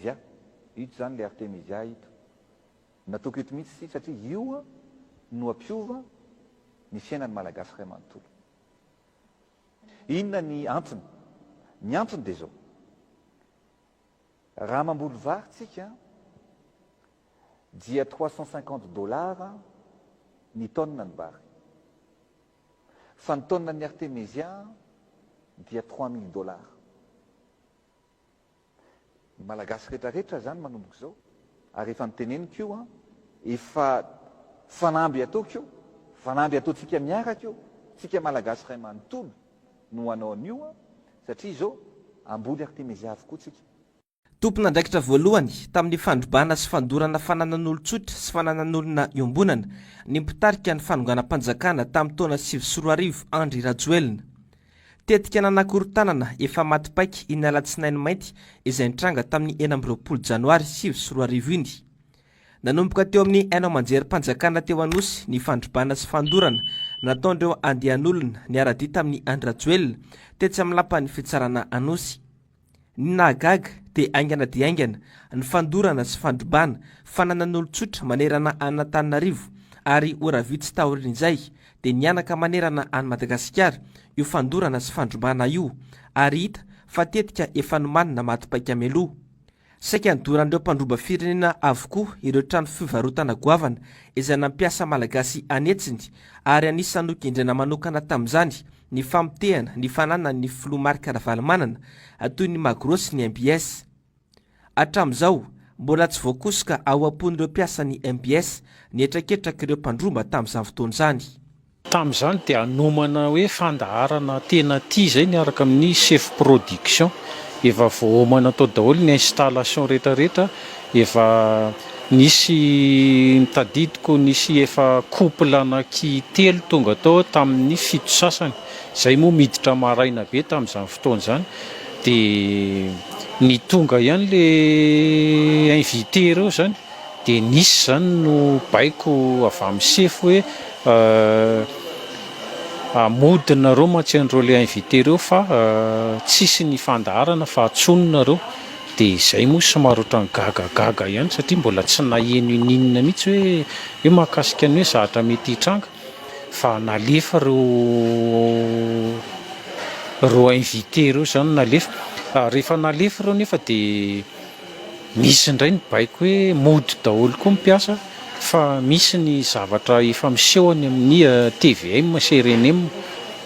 Dia ito zany le Artemisia ito. Natoky ito mihitsy ity satria io no ampiova ny fiainan'ny Malagasy ray manontolo. Inona ny antony? Ny antony dia zao. Raha mamboly vary tsika dia trois cent cinquante dollars ny tonne ny vary. Fa ny tonne ny Artemisia dia trois mille dollars. Ny Malagasy rehetra rehetra izany manomboka izao, ary efa noteneniko io an, efa fanamby ataoko io, fanamby ataontsika miaraka io, tsika Malagasy iray manontolo no hanao an'io an, satria izao hamboly Artemezia avokoa tsika. Tompon'andraikitra voalohany tamin'ny fandrobana sy fandorana fananan'olon-tsotra sy fananan'olona iombonana ny mpitarika ny fanonganam-panjakana tamin'ny taona sivy sy roa arivo Andry Rajoelina. Tetika nanakorontanana efa maty paika iny alatsinainy mainty izay nitranga tamin'ny enina amby roapolo janoary sivy sy roa arivo iny. Nanomboka teo amin'ny haino aman-jerim-panjakana teo Anosy ny fandrobana sy fandorana nataon'ireo andian'olona niara-dia tamin'i Andry Rajoelina tetsy amin'ny lapan'ny fitsarana Anosy. Ny nahagaga dia haingana dia haingana ny fandorana sy fandrobana fananan'olon-tsotra manerana an'Antananarivo ary ora vitsy taorian'izay dia mihanaka manerana an'i Madagasikara io fandorana sy fandrobana io ary hita fa tetika efa nomanina maty paika mialoha Saika nodoran'ireo mpandroba firenena avokoa ireo trano fivarotana goavana izay nampiasa Malagasy an'hetsiny ary anisan'ny nogendrena manokana tamin'izany ny famotehana ny fananan'ny Filoha Marc Ravalomanana toy ny Magro sy ny mbs. Hatramin'izao, mbola tsy voakosoka ao am-pon'ireo mpiasan'ny mbs ny hetraketrak'ireo mpandroba tamin'izany fotoana izany. Tamin'izany dia hanomana hoe fandaharana tena aty izay miaraka amin'ny sefo production. Efa voaomana tao daholo ny installation rehetra rehetra, efa nisy tadidiko nisy efa couple anaky telo tonga tao tamin'ny fito sasany, izay moa miditra maraina be tamin'izany fotoana izany dia ny tonga ihany le invité ireo izany Dia nisy izany no baiko avy amin'ny sefo hoe mody nareo mantsy an'ireo le invité reo fa tsisy ny fandaharana fa atsono nareo. Dia izay moa somary ohatran'ny gagagaga ihany satria mbola tsy naheno ininona mihitsy hoe hoe mahakasika ny hoe zahatra mety hitranga fa nalefa ireo ireo invité ireo izany nalefa. Rehefa nalefa ireo nefa dia Misy indray ny baiko hoe mody daholo koa ny mpiasa fa misy ny zavatra efa miseho any amin'ny tvm sy rnm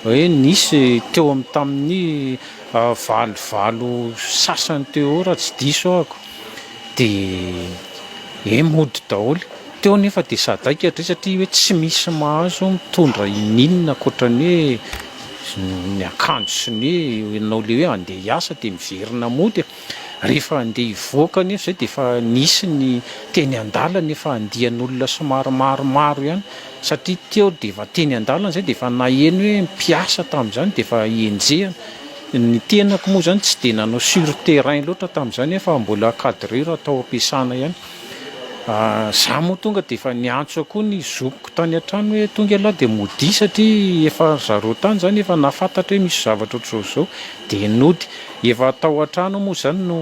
hoe nisy teo amin'ny tamin'ny valo valo sasany teo eo raha tsy diso ahako dia e mody daholo. Teo anefa dia sadaika hatrizay satria hoe tsy misy mahazo mitondra ininona ankoatra ny hoe ny akanjo sy ny hoe ianao le hoe andeha hiasa dia miverina mody. Rehefa andeha hivoaka anefa izay dia efa nisy ny teny an-dalana efa andian'olona somary maromaro ihany satria teo dia efa teny an-dalana izay dia efa naheno hoe mpiasa tamin'izany dia efa enjehina. Ny tenako moa izany tsy dia nanao sur terrain loatra tamin'izany aho fa mbola cadreur atao am-piasana ihany. Za moa tonga dia efa niantso koa ny zokiko tany an-trano hoe tonga ialahy dia modia satria efa ry zareo tany izany efa nahafantatra hoe misy zavatra ohatr'izao izao dia nody. Efa tao an-trano aho moa izany no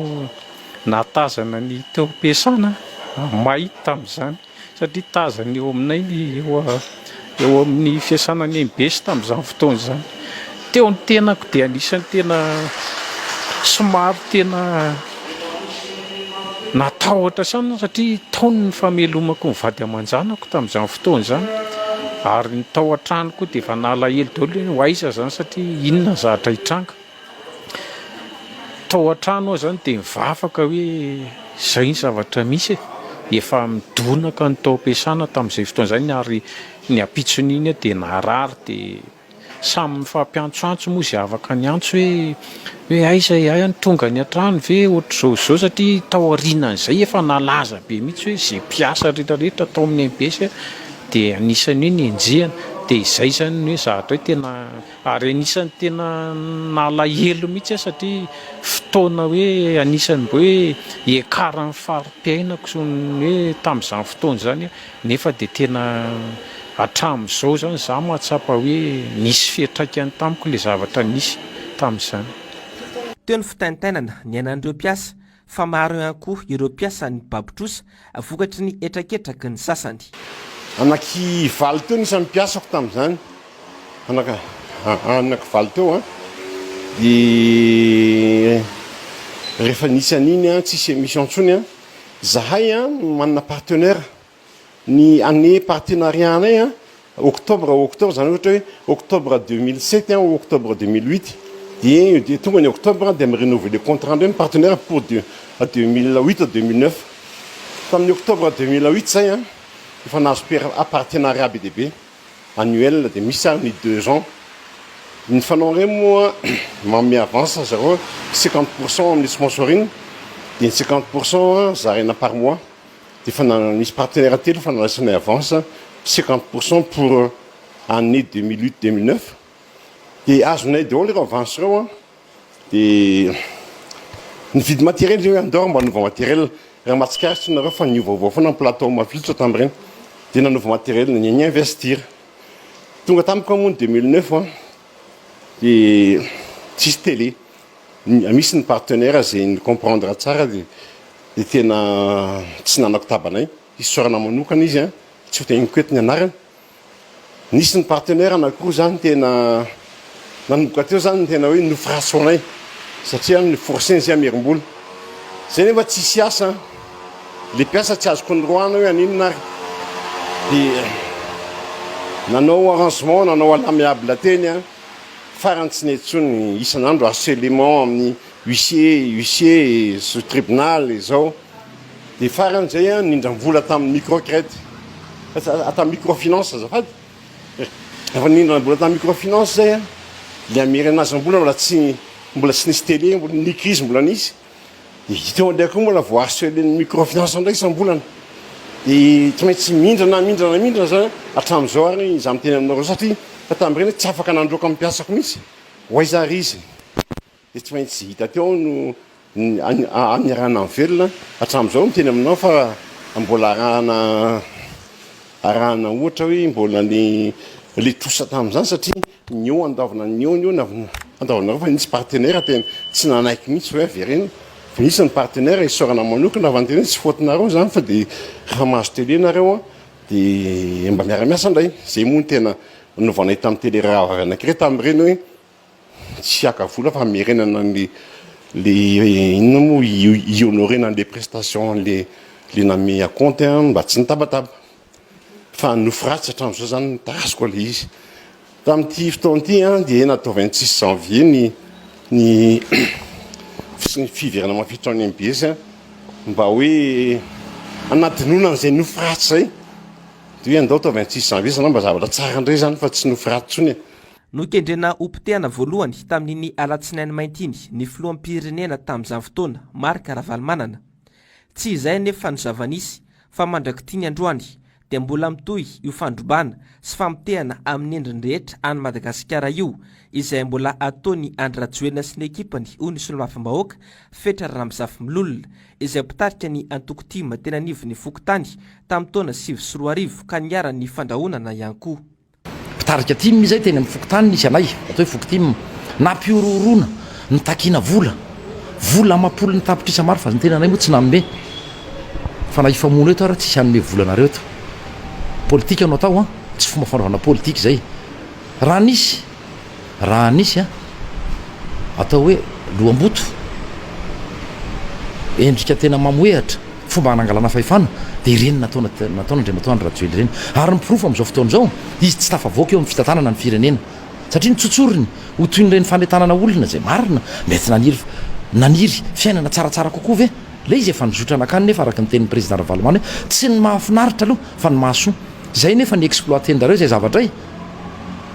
nahatazana ny taom-piasana, may tamin'izany satria tazana eo aminay ny eo amin'ny fiasana any am-base tamin'izany fotoana izany. Teo ny tenako dia anisan'ny tena somary tena natahotra saina aho satria tao ny famelomako ny vady aman-janako tamin'izany fotoana izany ary ny tao an-trano koa dia efa nalahelo daholo hoe ho aiza izany satria inona ny zavatra hitranga. Tao an-trano aho izany dia nivavaka hoe izay ny zavatra misy e! efa midonaka ny taom-piasana tamin'izay fotoana izay ary ny ampitson'iny aho dia narary dia. Samy mifampiantsoantso moa izay afaka niantso hoe hoe aiza e, hay any tonga any an-trano ve ohatr'izao sy izao satria tao aorianan'izay efa nalaza be mihitsy hoe izay mpiasa rehetra rehetra tao amin'ny mbs dia anisan'ny hoe nenjehina dia izay izany ny hoe zavatra hoe tena ary anisan'ny tena nalahelo mihitsy aho satria fotoana hoe anisan'ny mba hoe hiakaran'ny fari-piainako sy ny hoe tamin'izany fotoana izany aho Nefa dia tena hatramin'izao izany izaho mahatsapa hoe nisy fiantraikany tamiko ilay zavatra nisy tamin'izany. Teo ny fitaintainana niainan'ireo mpiasa, fa maro ihany koa ireo mpiasa nibabotrosa vokatry ny hetraketraky ny sasany. Anaky valo teo ny isan'ny mpiasako tamin'izany, anaky valo teo an! Dia rehefa nisy an'iny an, tsisy emission intsony an! Zahay an no manana partenaire ny année partenariat anay an octobre octobre zany ohatra hoe octobre deux mille sept an ou octobre deux mille huit dia dia tonga ny octobre dia mi renouveler contrat ndray ny partenaire pour deux deux mille huit à deux mille neuf tamin'ny octobre deux mille huit zay an efa nahazo per- partenariat be dia be annuel dia misy ary ny deux ans ny fanao ireny moa manome avance zareo cinquante pour cent amin'ny sponsoring dia ny cinquante pour cent zaraina par mois dia efa misy partenaire telo efa nandraisana avance cinquante pour cent pour année deux mille huit deux mille neuf dia azonay daholo ireo avance ireo Dia ny vide matériel io andao mba hanova matériel raha mahatsikaritra tsy nareo fa niovaova foana ny plateau mavilotra tamin'ireny dia nanova matériel ny ny investir tonga tamiko moa ny 2009 an dia tsisy télé misy ny partenaire zay ny comprendre tsara dia dia tena tsy nanako tabanay isaorana manokana izy an tsy ho tegniko eto ny anarany Nisy ny partenaire anakiroa izany tena nanomboka teo izany ny tena hoe nofrasorinay satria ny forceny izay hamerim-bola. Izay nefa tsisy asa an! Ilay mpiasa tsy azoko noroahana hoe haninona ary dia nanao arrangement, nanao à l'amiable teny an! Farany tsy nety intsony, isan'andro harcelement amin'ny huissier, huissier, tribunal, izao. Dia farany zay an nindram-vola tamin'ny micro crète sa tamin'ny micro finance azafady rehefa nindram-bola tamin'ny micro finance zay an le hamerenazam-bola mbola tsy mbola tsy nisy tele mbola ny crise mbola nisy dia teo an'ilay koa mbola voa harcelen'ny micro finance indray isam-bolana dia tsy maintsy mindrana mindrana mindrana zany hatramin'izao ary izaho miteny aminareo satria fa tamin'ireny tsy afaka nandroaka amin'ny mpiasako mihitsy ho aiza ary izy Dia tsy maintsy tsy vita teo no niarahana nivelona hatramin'izao ny teny aminao fa mbola arahana arahana ohatra hoe mbola ny le trosa tamin'izany satria ny eo andaovina ny eo ny eo andaovinareo fa nisy partenaire tena tsy nanaiky mihitsy hoe avereno fa nisy ny partenaire isaorana manokana fa ny tena tsy faute-nareo izany fa dia raha mahazo télé nareo dia mba miara-miasa indray izay moa ny tena novanay tamin'ny télé raha avy anankiray tamin'ireny hoe Tsy haka vola fa merenana ny le inona moa hi-honorer na le prestation le le namehy à compte an mba tsy nitabataba. Fa nofy ratsy hatramin'izao zany no tarazo koa le izy. Tamin'ity fotoana ity an dia natao vingt six janvier ny ny fisian'ny fiverenana mampiditra ao ny mbs an mba hoe hanadinoana an'izay nofy ratsy izay. Dia hoe andao atao vingt six janvier zany mba zavatra tsara indray zany fa tsy nofy ratsy intsony e. Nokendrena ho potehana voalohany tamin'iny alatsinainy mainty iny ny filoham-pirenena tamin'izany fotoana, Marc Ravalomanana. Tsy izay anefa no zava-nisy fa mandrak'ity ny androany dia mbola mitohy io fandrobana sy famotehana amin'ny endriny rehetra an'i Madagasikara io izay mbola ataon'i Andry Rajoelina sy ny ekipany hoy ny Solomafimbahoaka Fetra Ramizafimilolona izay mpitarika ny antoko tim teny anivon'ny fokontany tamin'ny taona sivy sy roa arivo ka niharan'ny fandrahonana ihany koa. Mpitarika tim izay teny amin'ny fokontany nisy anay, atao hoe foko tim. Nampihorohoroana, nitakiana vola. Vola amam-polony tapitrisa maro fa ny tenanay moa tsy nanome. Fa na hifamono eto ary tsisy hanome vola anareo eto. Politika no atao an! Tsy fomba fanaovana politika izay. Raha nisy. Raha nisy an, atao hoe loham-boto, endrika tena mamohehatra, fomba hanangalana fahefana, dia ireny nataona nataon'Andriamatoa Andry Rajoely ireny. Ary ny porofo amin'izao fotoana izao, izy tsy tafavoaka eo amin'ny fitantanana ny firenena. Satria ny tsotsoriny, ho toy ireny fanentanana olona izay marina, mety naniry naniry fiainana tsaratsara kokoa ve? Ilay izy efa nizotra nankany nefa araka ny tenin'ny Président Ravalomanana hoe, tsy ny mahafinaritra aloha fa ny mahasoa. Izay nefa ni-exploiter-njareo izay zavatra e!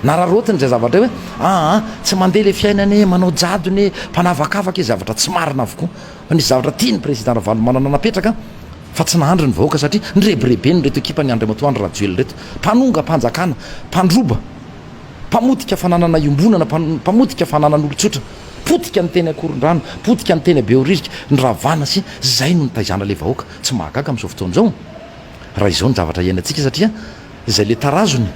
Nararaotiny izay zavatra hoe aa tsy mandeha ilay fiainana e, manao jadona e, mpanavakavaka e, zavatra tsy marina avokoa. Fa nisy zavatra tian'ny Président Ravalomanana napetraka fa tsy nahandry ny vahoaka satria nirebirebeny ireto ekipan'i Andriamatoa Andry Rajoelina ireto. Mpanongampanjakana, mpandroba, mpamotika fananana iombonana, mpamotika fananan'olontsotra, potika ny teny Ankorondrano, potika ny teny Behoririka, ny Ravana sy izay no nitaizana ilay vahoaka. Tsy mahagaga amin'izao fotoana izao. raha izao ny zavatra iainantsika satria izay le tarazony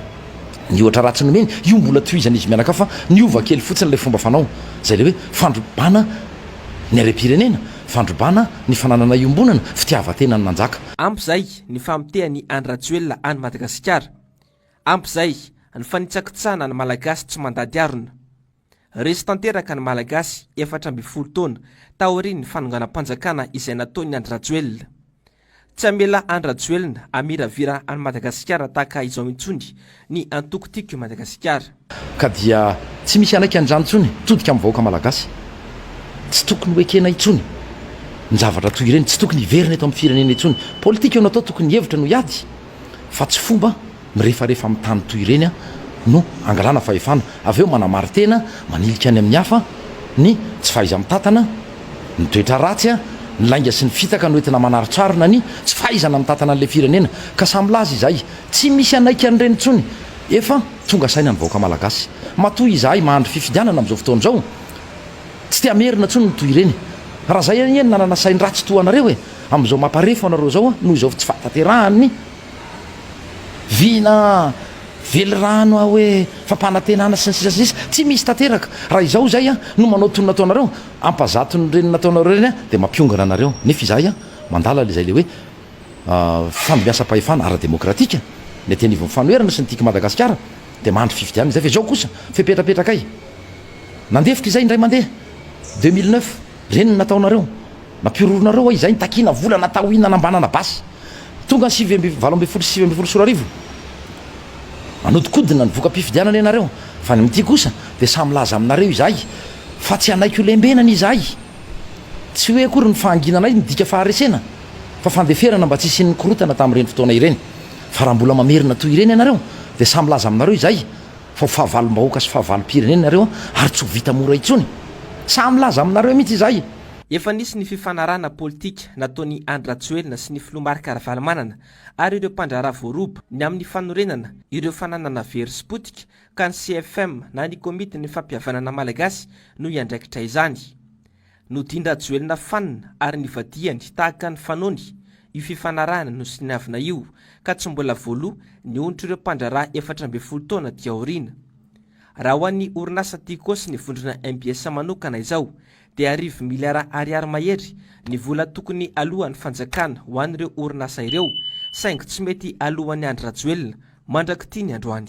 ny ohatra ratsy nomeny io mbola tohizana izy mianakavy fa niova kely fotsiny ilay fomba fanao izay le hoe fandrobana ny harem-pirenena fandrobana ny fananana iombonana fitiavan-tena ny nanjaka Ampy izay ny famotehan'i Andry Rajoelina an'i Madagasikara. Ampy izay ny fanitsakitsahana ny Malagasy tsy mandady harona. Resy tanteraka ny Malagasy efatra ambin'ny folo taona taorian'ny fanonganam-panjakana izay nataon'i Andry Rajoelina. Tsy hamela Andry Rajoelina hamiravira an'i Madagasikara tahaka izao intsony ny antoko Tiako i Madagasikara. Ka dia tsy misy hanaiky an'izany intsony hitodika amin'ny vahoaka Malagasy. Tsy tokony hoekena intsony ny zavatra toy ireny, tsy tokony hiverina eto amin'ny firenena intsony. Politika no atao, tokony hevitra no hiady fa tsy fomba. mirefarefa amin'ny tany toy ireny no angalana fahefana, avy eo manamarin-tena, manilika any amin'ny hafa, ny tsy fahaiza-mitantana, ny toetra ratsy, ny lainga sy ny fitaka no entina manaritsarona ny tsy fahaizana mitantana an'ilay firenena, ka samy milaza izay, tsy misy hanaiky an'ireny intsony, efa tonga saina ny vahoaka malagasy, matoa izahay mahandry fifidianana amin'izao fotoana izao, tsy te hamerina intsony ny toy ireny, raha izay anie ny nanana sain-dratsy toa anareo e, amin'izao mamparefa anareo izao noho izao tsy fahatanterahan'ny Vina, velirano aho hoe fampanantenana sy ny sisa sy ny sisa, tsy misy tanteraka, raha izao izay no manao toy ny nataonareo, hampazato ny ireny nataonareo ireny dia mampiongana anareo, nefa izahay mandala ilay hoe fandimbihasam-pahefana ara-demokratika, ny aty anivon'ny fanoherana sy ny Tiko Madagasikara dia mandry fifidianana izay, fa izao kosa fepetrapetra kay, nandefitra izay indray mandeha deux mille neuf, ireny no nataonareo, Nampihoronareo hoe izay nitakiana vola na tahoinana mba hanana basy. Tonga ny sivy amby valo ambin'ny folo sy sivy ambin'ny folo sy roa arivo, manodikodina ny voka-pifidianana ianareo, fa ny amin'ity kosa dia samy milaza aminareo izahay fa tsy hanaiky ho lembenana izahay. Tsy hoe akory ny fahanginana io midika faharesena, fa fandeferana mba tsy hisian'ny korontana tamin'ireny fotoana ireny. Fa raha mbola mamerina toy ireny ianareo, dia samy milaza aminareo izahay fa ho fahavalom-bahoaka sy fahavalom-pirenena ianareo ary tsy ho vita mora intsony. Samy milaza aminareo mihitsy izahay Efa nisy ny fifanarahana politika nataon'i Andry Rajoelina sy ny filoha Marc Ravalomanana ary ireo mpandraharaha voaroba ny amin'ny fanorenana ireo fananana very sy potika ka ny CFM na ny Komitin'ny Fampihavanana Malagasy no hiandraikitra izany. Nodian-dRajoelina fanina ary nivadihany tahaka ny fanony io fifanarahana nosoniavina io ka tsy mbola voaloa ny ontr'ireo mpandraharaha efatra ambin'ny folo taona aty aoriana. Raha ho an'ny orinasa Tiko sy ny vondrona mbs manokana izao dia arivo miliara ariary mahery ny vola tokony aloan'ny fanjakana ho an'ireo orinasa ireo saingy tsy mety aloan'i Andry Rajoelina mandrak'ity ny androany.